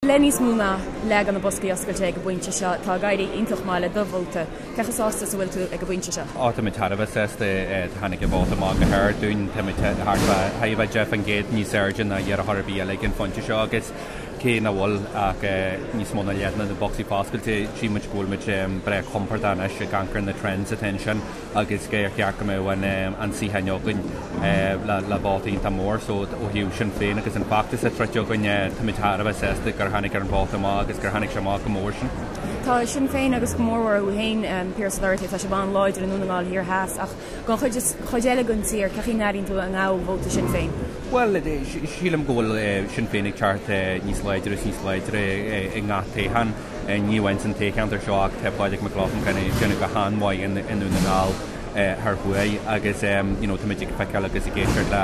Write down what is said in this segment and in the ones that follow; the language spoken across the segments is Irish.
Le níos mó ná leath de na boscaí oscailte ag an bpointe seo, tá ag éirí iontach maith le do vóta. Cé chomh sásta is a bhfuil tú ag an bpointe seo. Ó táimid thar a bheith sásta. Tháinig an vóta amach go hard dúinn. Táimid thart fá 10% níos airde ná iarrthóir ar bith eile ag an phointe seo agus cé nach bhfuil ach níos mó ná leath de na bocsaí foscailte, sílimid go bhfuilimid breá compordach anois ag amharc ar na trends atá ansin. agus gur cheart go mbeadh an an suíochán againn le le vóta iontach mór so ó thaobh Sinn Féin agus an feachtas a troideadh againn táimid thar a bheith sásta gur tháinig ar an vóta amach agus gur tháinig sé amach chomh mór sin. Tá Sinn Féin agus go mór mhór thú fhéin Pearse Doherty tá sibh an-láidir i nDún na nGall Thiar Theas ach don chuid eile den tír cén chaoi a n-airíonn tú a ngabhfaidh vóta Sinn Féin? Bhuel sílim go bhfuil Sinn Féin ag teacht níos láidre is níos láidre i ngach toghchán. Ní amháin san toghcheantar seo ach tá Pádraig Mac Lochlainn ag déanamh go han-mhaith i nDún na nGall thoir thuaidh agus you know táimid ag feiceáil agus ag éisteacht le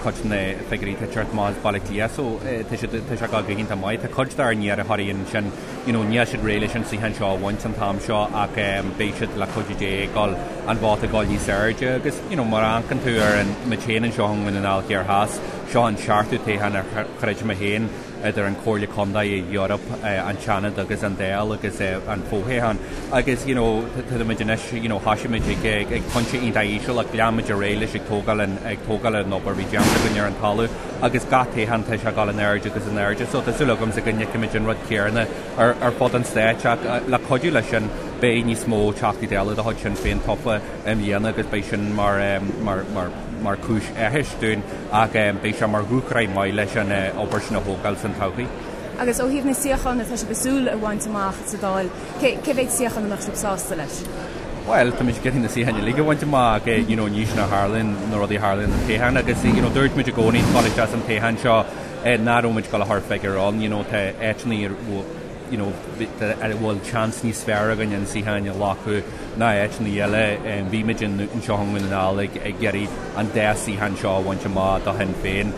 cuid de na figiúirí atá ag teacht amach as Baile Átha Cliath so tá siad tá siad ag dul go hiontach maith. Tá cuid dár n-iarrthóirí ansin you know níl siad réidh leis an suíochán seo a bhaint an t-am seo ach beidh siad le cuidiú Dé ag dul an vóta ag dul níos airde agus you know má amharcann tú ar muid féin anseo i nDún na nGall thiar theas seo an seachtú toghchán a throid mé féin idir an Comhairle Contae, Eoraip, an Seanad agus an Dáil agus an fothoghchán. Agus you know táimid anois, you know thosaigh muid ag pointe iontach íseal ach lean muid ar aghaidh leis ag tógáil an, ag tógáil an obair a bhí déanta againn ar an talamh agus gach toghchán tá sé ag dul in airde agus in airde. So tá súil agamsa go bhfeicfimid an rud céanna ar, ar fud an Stáit ach le cuidiú leis sin beidh níos mó Teachtaí Dála de chuid Sinn Féin tofa i mbliana agus beidh sin mar, mar, mar, mar chúis áthais dúinn ach beidh sé mar dhúshraith maith leis an obair sin a thógáil san todhchaí. Agus ó thaobh na suíochán atá sibh ag súil a bhaint amach sa Dáil, cé cé mhéad suíochán a mbeadh sibh sásta leis? Bhuel, tá mise ag iarraidh na suíocháin uilig a bhaint amach ach you know ní sin a tharlaíonn na rudaí a tharlaíonn i dtoghchán agus you know dúirt muid i gcónaí ag dul isteach san toghchán seo eh, nach raibh muid ag dul a chur figiúr ann you know tá áiteanna ar you know, a bhfuil seans níos fearr againn an suíochán a ghlacadh ná áiteanna eile. Bhí muid you know anseo i nDún na nGall ag ag iarraidh an dá shuíochán seo a bhaint amach do Shinn Féin.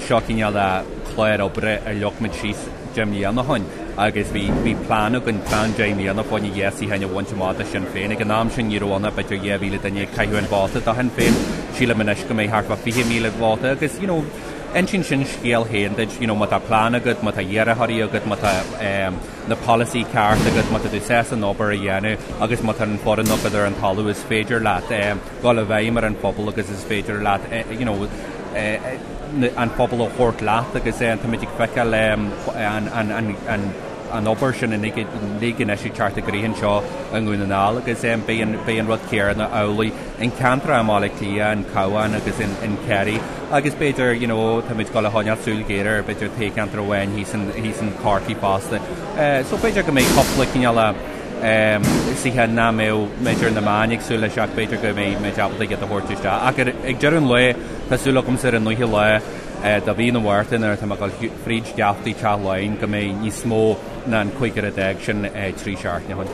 Seo cineál de chlár oibre a leag muid síos deich mbliana ó shin agus bhí bhí plean againn plean deich mbliana fá choinne an dhá shuíochán a bhaint amach do Shinn Féin. Ag an am sin ní raibh ann ach b'fhéidir dhá mhíle duine ag caitheamh an vóta do Shinn Féin. Sílim anois go mbeidh thart fá fiche míle vóta agus, you know, Insíonn sin scéal féin duit, you know, má tá plean agat, má tá iarrthóirí agat, má tá na polasaí ceart agat, má tá tú sásta an obair a dhéanamh agus má tá an foireann agat ar an talamh is féidir leat dul i bhfeidhm ar an phobal agus is féidir leat, you know, an pobal a thabhairt leat agus táimid ag feiceáil an obair sin uilig anois ag teacht i gcrích anseo i nDún na nGall agus beidh an rud céanna amhlaidh. in ceantar i mBaile Átha Cliath, in Cabhán agus in Kerry agus b'fhéidir, you know, táimid ag dul a choinneáil súil ghéar ar b'fhéidir ceantar amháin thíos in Corcaigh fosta. So b'fhéidir go mbeidh cúpla cineál suíochán nach mbeadh b'fhéidir na meáin ag súil leis ach b'fhéidir go mbeimid ábalta iad a thabhairt isteach. Ach ar, ag deireadh an lae tá súil agamsa ar an naoú lá de mhí na Márta nuair atá mé ag dul fríd gheaftaí Teach Laighean go mbeidh níos mó ná an cúigear a d'fhág sin trí seachtaine.